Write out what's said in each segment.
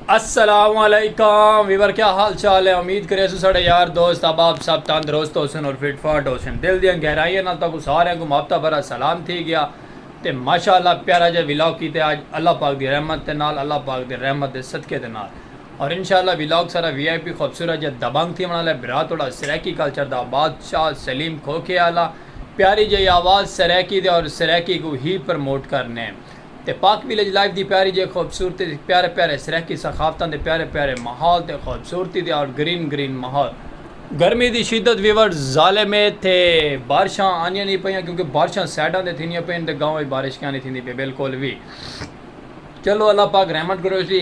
السلام علیکم ویور کیا حال چال ہے امید کرے سو سڑے یار دوست احباب سب تندرست ہو سن اور فٹ فاٹ ہو سن دل دیاں گہرائیاں نال تاکو سارے کو ماپتا بھرا سلام تھی گیا تے ماشاءاللہ پیارا جے ویلاگ کیتے آج اللہ پاک دی رحمت دے نال اللہ پاک دے رحمت دے صدقے دے نال اور انشاءاللہ ویلاگ سارا وی آئی پی خوبصورت جے دبنگ تھی بنا لے برا توڑا سریکی کلچر دا بادشاہ سلیم کھوکھے آلا پیاری جئی آواز سرائیکی دے اور سرائیکی کوں ہی پرموٹ کرنے تے پاک ویلیج لائف دی پیاری جئی خوبصورتی تے پیارے پیارے سرائیکی ثقافتاں دے پیارے پیارے ماحول تے خوبصورتی دے اور گرین گرین ماحول۔ گرمی دی شدت ویورز ظالم اے تے بارشاں آندیاں نی پیاں کیونکہ بارشاں سائیڈاں تے تھیندیاں پئین تے گاؤں اچ بارش کیاں نی تھیندی پئی بالکل وی چلو اللہ پاک رحمت کروسی۔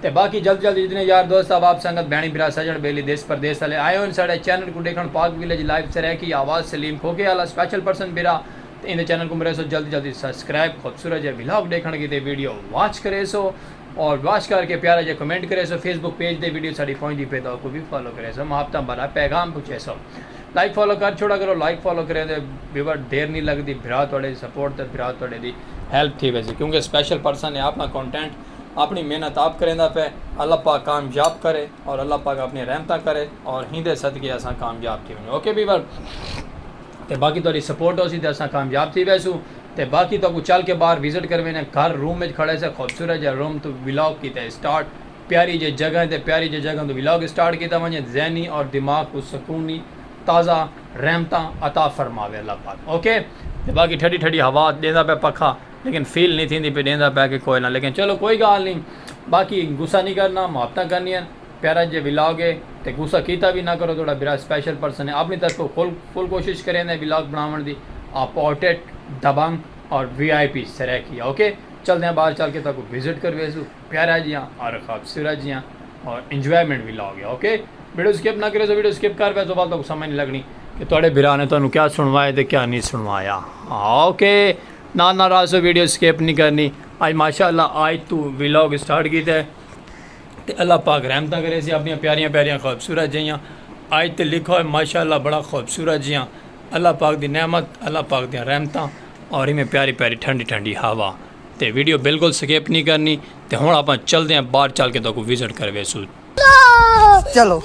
تے باقی جلد جلد جتنے یار دوست احباب سنگت بھینڑیں بھرا سجنڑ بیلی دیس پردیس آلے آئے ہن ساڑے چینل کوں ڈیکھنڑ پاک ویلیج لائیو سرائیکی آواز سلیم کھوکھے آلا سپیشل پرسن بھرا تے ایندے چینل کوں مریسو جلد جلد اچ سبسکرائب خوبصورت جئے ولاگ ڈیکھنڑ کیتے ویڈیو واچ کریسو اور واچ کر کے پیارا جئے کمنٹ کریسو فیس بک پیج تے ویڈیو ساڈی پہنچدی پئے تاں اوکوں وی فالو کریسو محبتاں بھرا پیغام پہنچیسو لائک فالو کر چھوڑا کرو لائک فالو کریں تے ویور دیر نی لگدی بھرا تہاڈے دی سپورٹ تے بھرا تہاڈے دی ہیلپ تھی ویسی کیونکہ سپیشل پرسن ہے اپنا کانٹینٹ اپݨی محنت آپ کریندا پئے اللہ پاک کامیاب کرے اور اللہ پاک اپݨی رحمتاں کرے اور ہیندے صدقے اساں کامیاب تھی ونجوں اوکے پیپل تے باقی تہاڈی سپورٹ ہوسی تے اساں کامیاب تھی ویسوں تے باقی تہاکوں چل کے باہر وزٹ کرویندے گھر روم وچ کھڑے سے خوبصورت جے روم توں ولاگ کیتے اسٹارٹ پیاری جے جگہ تے پیاری جے جگہ توں ولاگ اسٹارٹ کیتا ونجے ذہنی اور دماغ کوں سکونی تازہ رحمتاں عطا فرماوے اللہ پاک اوکے تے باقی ٹھڈی ٹھڈی ہوا ڈیندا پئے پکھا لیکن فیل نی تھیندی پئی ڈیندا پیا کہ کوئ نہ لیکن چلو کوئی گال نی باقی غصہ نی کرنا محبتاں کرنیاں پیارا جے ولاگ ہے تے غصہ کیتا وی نہ کرو تہاڈا برا سپیشل پرسن ہے اپنی طرفوں فل فل کوشش کریندا ولاگ بناون دی آپ پورٹریٹ دبنگ اور V I P Saraiki okay چلدیاں باہر چل کے تہاکوں وزٹ کرویسوں پیارا جیاں اور خوبصورت جیاں اور انجوائمنٹ ولاگ ہے اوکے ویڈیو سکپ نہ کریسو ویڈیو سکپ کر ویسو ول تہاکوں سمجھ نی لگنی کہ تہاڈے برا نے تہاکوں کیا سنوایا تے کیا نی سنوایا اوکے نال نال آسو ویڈیو سکپ نہیں کرنی آج ماشاءاللہ آج تو ویلاگ سٹارٹ کیتا ہے تے اللہ پاک رحمتہ کرے سی اپنی پیاریاں پیاریاں خوبصورت جیاں آج تے لکھا ہوئے ماشاءاللہ بڑا خوبصورت جیاں اللہ پاک دی نعمت اللہ پاک دیاں رحمتہ اور ہمیں پیاری پیاری ٹھنڈی ٹھنڈی ہوا تے ویڈیو بالکل سکپ نہیں کرنی تے ہون اپا چل دیاں باہر چل کے تو کو وزٹ کروے سو چلو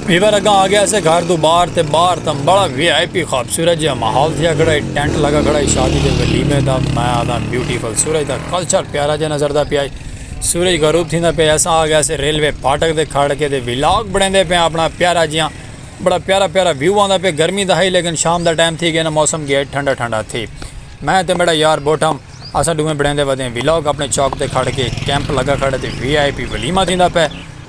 ویور اگاں آ گیا سے گھر دو باہر تے باہر تم بڑا وی آئی پی خوبصورت جہاں ماحول تھیا کھڑا ہے ٹینٹ لگا کھڑا ہے شادی دے ولیمے دا میں آدھا بیوٹیفل سورج دا کلچر پیارا جہاں نظر دا پیا سورج غروب تھی دا پیا ایسا آ گیا سے ریلوے پھاٹک دے کھڑ کے دے ولاگ بڑھیں دے پیا اپنا پیارا جہاں بڑا پیارا پیارا ویو آندا پیا گرمی دا ہئی لیکن شام دا ٹائم تھی گیا نا موسم گیا ٹھنڈا ٹھنڈا تھی میں تے میڈا یار بوٹھم اساں ڈوہیں بڑیندے ودے ہیں ویلاگ اپنے چوک تے کھڑ کے کیمپ لگا کھڑے تے وی آئی پی ولیمہ تھیندا پے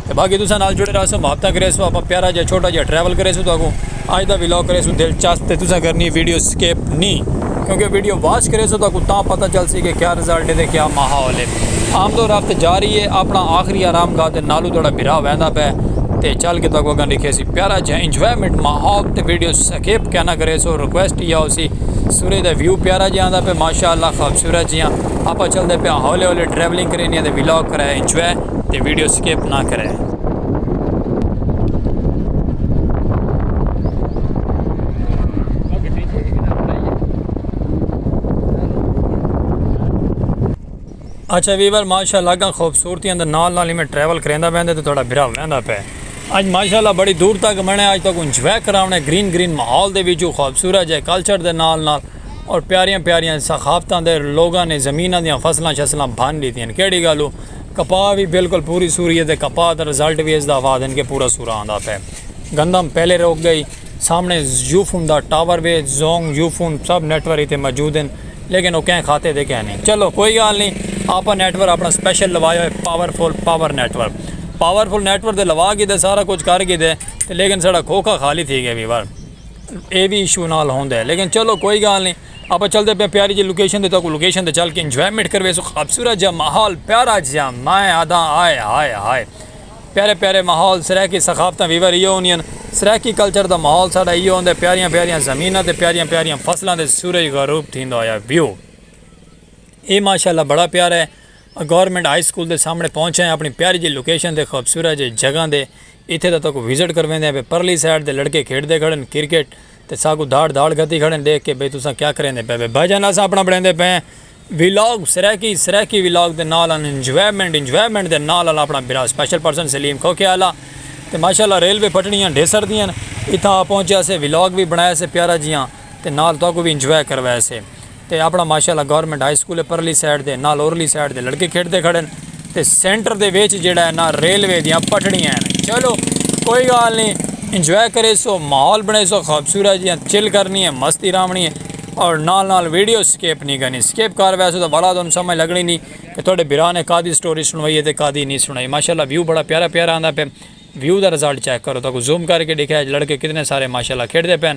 تے باقی تساں نال جڑے رہسو محبتاں کریسو اپا پیارا جا چھوٹا جا ٹریول کریسو تو اگوں اج دا ویلاگ کریسو دلچسپ تے تساں کرنی ویڈیو سکپ نی کیونکہ ویڈیو واچ کریسو تو کو تاں پتہ چلسی کہ کیا رزلٹ ہے تے کیا ماحول ہے آمد و رفت جاری ہے اپنا آخری آرام گاہ تے نالو تہاڈا بھرا ویندا پئے تے چل کے تہاکوں اگاں ڈکھیسی پیارا جیہاں انجوائمنٹ ماحول تے ویڈیو سکپ کینا کریسو ریکویسٹ ایہا ہوسی سورج دا ویو پیارا جیہاں آندا پئے ماشاءاللہ خوبصورت جیہاں آپاں چلدے پیاں ہولے ہولے ٹریولنگ کرینی ہے تے ولاگ کرائے انجوائے تے ویڈیو سکپ نہ کرے۔ اچھا ویور ماشاءاللہ اگاں خوبصورتیاں دے نال نال ایویں ٹریول کریندا ویندے تے تہاڈا بھرا ویندا پئے اج ماشاءاللہ بڑی دور تک بنے اج تہاکوں انجوائے کراونے گرین گرین ماحول دے وچوں خوبصورت جے کلچر دے نال نال اور پیاریاں پیاریاں ثقافتاں دے لوگاں نے زمیناں دیاں فصلاں شصلاں بھن ڈیتیاں کیڈی گالوں کپاہ وی بالکل پوری سوری ہے تے کپاہ دا رزلٹ وی اس دا آوادن کے پورا سورا آندا پے گندم پہلے روک گئی سامنے یوفون دا ٹاور وے زونگ یوفون سب نیٹ ورک تے موجود ہیں لیکن او کہیں خاتے دے کہیں نہیں چلو کوئی گال نہیں آپا نیٹ ورک اپنا سپیشل لوایا ہوئے powerful power network powerful network دے لوا گی دے سارا کچھ کر گی دے لیکن سارا کھوکھا خالی تھی گئے وی بار اے وی ایشو نال ہوندے لیکن چلو کوئی گال نہیں آپاں چلدے پیاں پیاری جئی لوکیشن تے تہاکوں لوکیشن تے چل کے انجوائمنٹ کرویسوں خوبصورت جیہا ماحول پیارا جیہا میں آدھاں ہائے ہائے ہائے پیارے پیارے ماحول سرائیکی ثقافتاں ویور ایہو ہوندیاں سرائیکی کلچر دا ماحول ساڈا ایہو ہوندا ہے پیاریاں پیاریاں زمیناں تے پیاریاں پیاریاں فصلاں تے سورج غروب تھیندا ہویا ویو اے ماشاءاللہ بڑا پیارا ہے گورنمنٹ ہائی سکول دے سامنے پہنچے ہیں اپنی پیاری جی لوکیشن تے خوبصورت جیہی جگہ دے ایتھے تہاکوں وزٹ کرویندے ہیں پرلی سائیڈ تے لڑکے کھیڈ دے کھڑے ہیں کرکٹ تے ساکوں دھاڑ دھاڑ گھتی کھڑن ڈیکھ کے بھئی تساں کیا کریندے پئے وے بھائی جان اساں اپنا بنڑیندے پئے ہیں ولاگ سرائیکی سرائیکی ولاگ دے نال آن انجوائمنٹ انجوائمنٹ دے نال آن اپنا بھرا سپیشل پرسن سلیم کھوکھے آلا تے ماشاءاللہ ریلوے پٹڑیاں ڈھیسر دیاں اتھاں آ پہنچیا سے ولاگ وی بنڑایا سے پیارا جیاں تے نال تہاکوں وی انجوائے کروایا سے۔ تے اپنا ماشاءاللہ گورنمنٹ ہائی سکول پرلی سائیڈ دے نال اورلی سائیڈ دے لڑکے کھیڈدے کھڑن تے سینٹر دے وچ جیڑھا ہے نا ریلوے دیاں پٹڑیاں ہن چلو کوئی گال نی انجوائے کریسو ماحول بنڑیسو خوبصورت جیاں چل کرنی ہے مستی راونڑی ہے اور نال نال ویڈیو سکیپ نی کرنی سکیپ کر بیسو تاں ولا تہاڈو سمجھ لگنڑی نی کہ تہاڈے بھرا نے کادی سٹوری سنڑوائی ہے تے کادی نی سنڑوائی ماشاءاللہ ویو بڑا پیارا پیارا آندا پے ویو دا رزلٹ چیک کرو تہاکوں زوم کر کے ڈکھایا لڑکے کتنے سارے ماشاءاللہ کھیڈدے پے ہن۔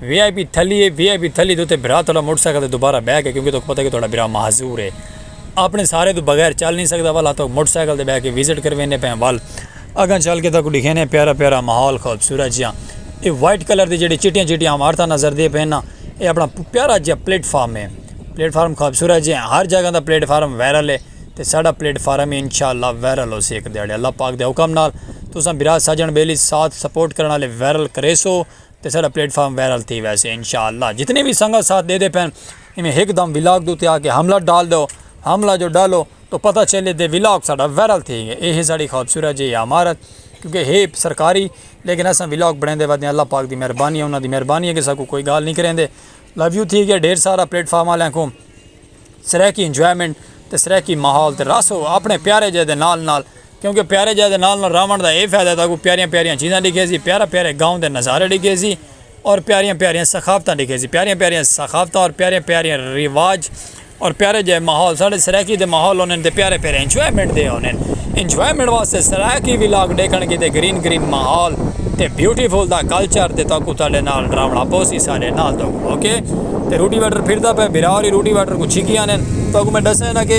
وی I P تھلی a V I پی تھلی دے اتے بھرا تہاڈا موٹر سائیکل تے دوبارہ بہہ کے کیونکہ تہاکوں پتہ اے کہ تہاڈا بھرا معذور اے اپنے سہارے توں بغیر چل نی سکدا ول تہاکوں موٹر سائیکل تے بہہ کے وزٹ کرویندے پئے آں ول اگاں چل کے تہاکوں ڈکھیندے آں پیارا پیارا ماحول خوبصورت جیہاں اے وائٹ کلر دی جیہڑیاں چٹیاں چٹیاں عمارتاں نظر دیاں پئے ناں اے اپنا پیارا جیہا پلیٹ فارم اے پلیٹ فارم خوبصورت جیہاں ہر جگہ دا پلیٹ فارم وائرل اے تے ساڈا پلیٹ فارم وی انشاء اللہ وائرل ہوسی اک دیہاڑے اللہ پاک دے حکم نال تساں بھرا سجن بیلی ساتھ سپورٹ کرݨ آلے وائرل کریسو۔ تے ساڈا پلیٹ فارم وائرل تھی ویسے انشاءاللہ جتنے وی سنگت ساتھ دے دے پن ایویں ہک دم ولاگ دے تے آ کے حملہ ڈال دو حملہ جو ڈالو تو پتہ چلے دے ولاگ ساڈا وائرل تھی گئے اے ہے ساڈی خوبصورت جے عمارت کیونکہ ہے سرکاری لیکن اساں ولاگ بنیندے ودے آں اللہ پاک دی مہربانی ہے انہاں دی مہربانی ہے کہ ساکوں کوئی گال نی کریندے لو یو تھی گئے ڈھیر سارا پلیٹ فارم آلیاں کوں سرائیکی انجوائمنٹ تے سرائیکی ماحول تے رس ہو اپنے پیارے جے دے نال نال کیونکہ پیارے جاہ دے نال نال راونڑ دا اے فائدہ ہے تاکوں پیاریاں پیاریاں چیزاں ڈیکھیسی، پیارا پیارے گاؤں دے نظارے ڈیکھیسی اور پیاریاں پیاریاں ثقافتاں ڈیکھیسی۔ پیاریاں پیاریاں ثقافتاں اور پیارے پیارے رواج اور پیارے جاہ ماحول ساڑے سرائیکی دے ماحول ہوندن تے پیارے پیارے انجوائمنٹ دے ہوندن۔ انجوائمنٹ واسطے سرائیکی ولاگ ڈیکھن کیتے گرین گرین ماحول تے بیوٹی فل دا کلچر تے تاکوں تہاڈے نال راونڑا پوسی ساڈے نال تاکوں اوکے۔ تے روٹی ویٹر پھردا پئے بھرا ہوری روٹی ویٹر کوں چھکی آندن تاکوں میں ڈساں نا کہ۔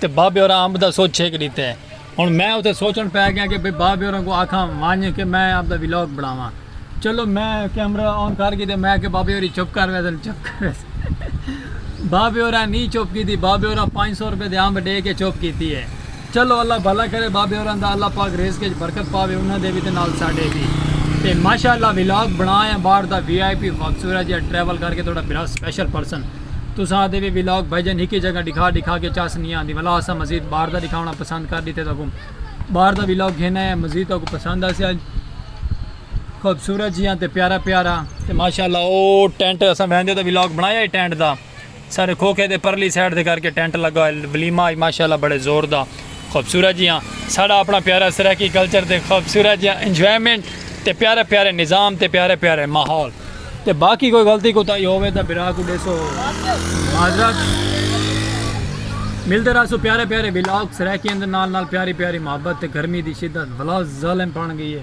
تے بابے ہوراں امب دا سوچ چھک ݙتے۔ ہݨ میں اتے سوچݨ پئے ڳیاں کہ بھئی بابے ہوراں کوں آکھاں ونڄ کہ میں امب دا ولاگ بݨاواں۔ چلو میں کیمرہ آن کر ڳیتے میں آکھیا بابے ہوری چپ کر ویسن چپ کر ویسن۔ بابے ہوراں نی چپ کیتی بابے ہوراں پنج سو روپے دے امب ݙے کے چپ کیتی اے۔ چلو اللہ بھلا کرے بابے ہوراں دا اللہ پاک رزق اچ برکت پاوے انہاں دے وی تے نال ساݙے وی۔ تے ماشاءاللہ ولاگ بݨا یا ٻاہر دا وی آئی پی خوبصورت جیہا ٹریول کر کے تہاݙا بھرا سپیشل پرسن۔ تساں آتے وی ولاگ بھائیجن ہکی جگہ ڈکھا ڈکھا کے چس نی آندی ولا اساں مزید باہر دا ڈکھاونا پسند کر ڈیتے تاں کوں باہر دا ولاگ گھینا ہے مزید تاں کوں پسند آسے آج خوبصورت جیاں تے پیارا پیارا تے ماشاءاللہ او ٹینٹ اساں بہندے دا ولاگ بنایا ہے ٹینٹ دا سارے کھوکھے دے پرلی سائیڈ دے کر کے ٹینٹ لگا ہے ولیمہ آج ماشاءاللہ بڑے زور دا خوبصورت جیہاں ساڑا اپنا پیارا سرائیکی کلچر تے خوبصورت جیہاں انجوائمنٹ تے پیارے پیارے نظام تے پیارے پیارے ماحول تے باقی کوئی غلطی کوتاہی ہووے تاں بھرا کوں ڈیسو معذرت ملتے رہسو پیارے پیارے ولاگ سرائیکیاں دے نال نال پیاری پیاری محبت تے گرمی دی شدت ولا ظالم پن گئی ہے